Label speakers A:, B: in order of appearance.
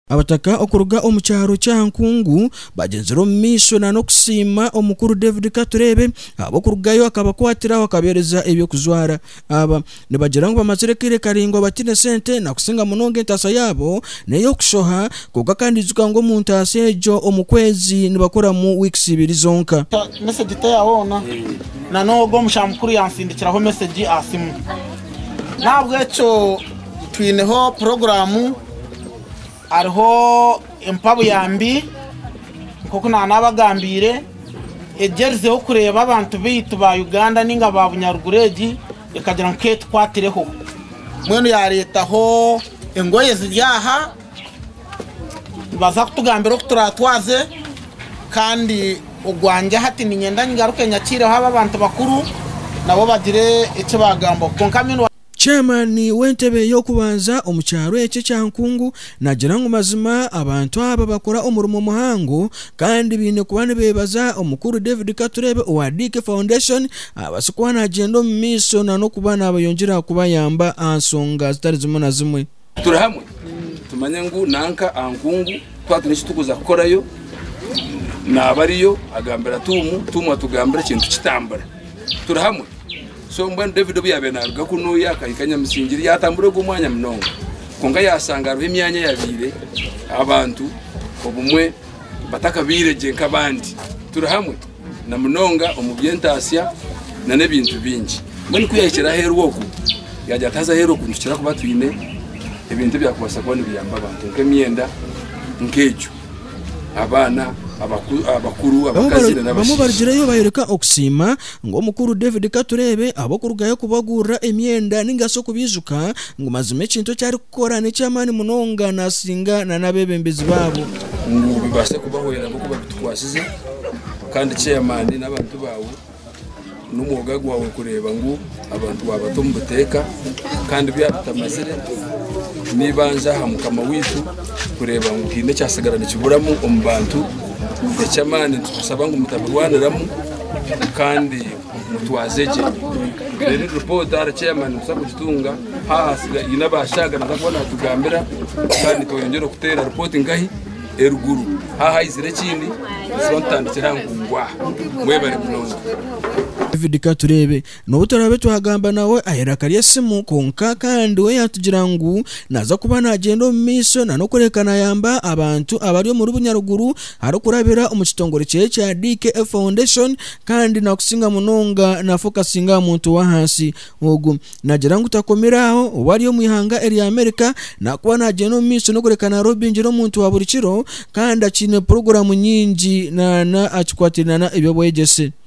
A: Abataka okuruga omu kyaro kya Nkungu bagyenzire omu maisho nana okusiima omukuru David Katureebe ahabw'okurugayo akabakwatiraho akabeereza eby'okujwara. Aba nibagira ngu bamazire akaire karaingwa bataine sente nakusinga munonga entaasa yaabo n'ey'okushoha kwonka kandi ijuka ngu omu ntaasa egyo omu kwezi nibakoramu wiikisi ibiri zonka. Mesegi teya
B: hoona nana ogwo omusha mukuru yansindikiraho mesegi aha siimu n'ahabw'ekyo twineho puroguramu. hariho empa buyambi nk'oku naanabagambiire egyerizeho kureeba abantu baitu ba Uganda nainga ba bunyaruguru egi ekagira ngu ka etukwatireho. Mbwenu yaareetaho engoye ziri aha nibaza kutugambira oku turatwaze kandi ogwangye hati niinyenda nyigaruke nyakiireho aba abantu bakuru nabo bagire eki bagambaho kwonka Chairman
A: w'entebe y'okubanza omu kyaro ekyo ekya Nkungu nagira ngu mazima abantu aba bakora omurimo muhango kandi baine kuba nibebaza omukuru David Katurebe owa Dick Foundation abaase kuba nagyenda omu maisho nanokuba nabayongyera kubayamba aha nsonga zitari zimwe na zimwe. Turi hamwe
C: tumanye ngu nanka aha nkungu twatine eki turikuza kukorayo naaba ariyo agambira Tuumu, Tuumu atugambira ekintu kitambura. Turi hamwe. So mbwenu David obu yaabaire naaruga kunuuya akahika Nyamusingiri yaatambura ogwo mwanya munonga kwonka yaashanga hariho emyanya eyaabaire abantu obumwe batakabaire gye nk'abandi. Turi hamwe. na munonga omu by'entaatsya na n'ebintu bingi. Mbwenu ku yahikire aheeru oku, yaagira ati, Haza aheeru oku nitukira kuba twine ebintu ebyakubaasa kuba nibiyamba abantu nk'emyenda nk'egyo, abaana, abakuru, abakazi na Bamwe n'abashaija. barugireyo bayoreka
A: okusiima, ngu Omukuru David Katureebe ab'okurugayo kubagurira emyenda nainga shi okubaijuka ngu mazima ekintu eki arikukora n'eky'amaani munonga naasinga na n'abeebembezi baabo. ngu bibaase
C: kubahwera ahabw'okuba bitukwasize. Kandi chairman n'abantu baawe n'omwoga gwawe kureeba ngu abantu waabata omu buteeka kandi byaba bitamazire n'eibanja aha Mukama waitu kureeba ngu haine ekyatsigara nikiburamu omu bantu eky'amaani nitukusaba ngu mutabirwaniramu kandi mutwaze gye. Reero egi ripooti ahari chairman nituza kugitunga haahasire haine abaashaaga naza kuba naatugambira kandi tweyongyera okuteera ripooti nkahi? eruguru hahaizire ekindi butswa nitutandikira aha nkungu aha mwebare munonga David
A: Katureebe n'obu turaabe twagamba nawe aha iraka ry'esimu kwonka kandi we yaatugira ngu naaza kuba naagyenda omu maisho na n'okureebeka naayamba abantu abari omuri Bunyaruguru arikurabira omu kitongore kye kya DKA Foundation kandi naakusinga munonga naafokasinga aha muntu w'ahansi ogu Nagira ngu takomire aho, obu ari omu ihanga erya Amerika naakuba naagyenda omu maisho n'okureka naroho bingi n'omuntu wa buri kiro kandi akiine puroguramu nyingi na akikwataine na eby'obwegyese.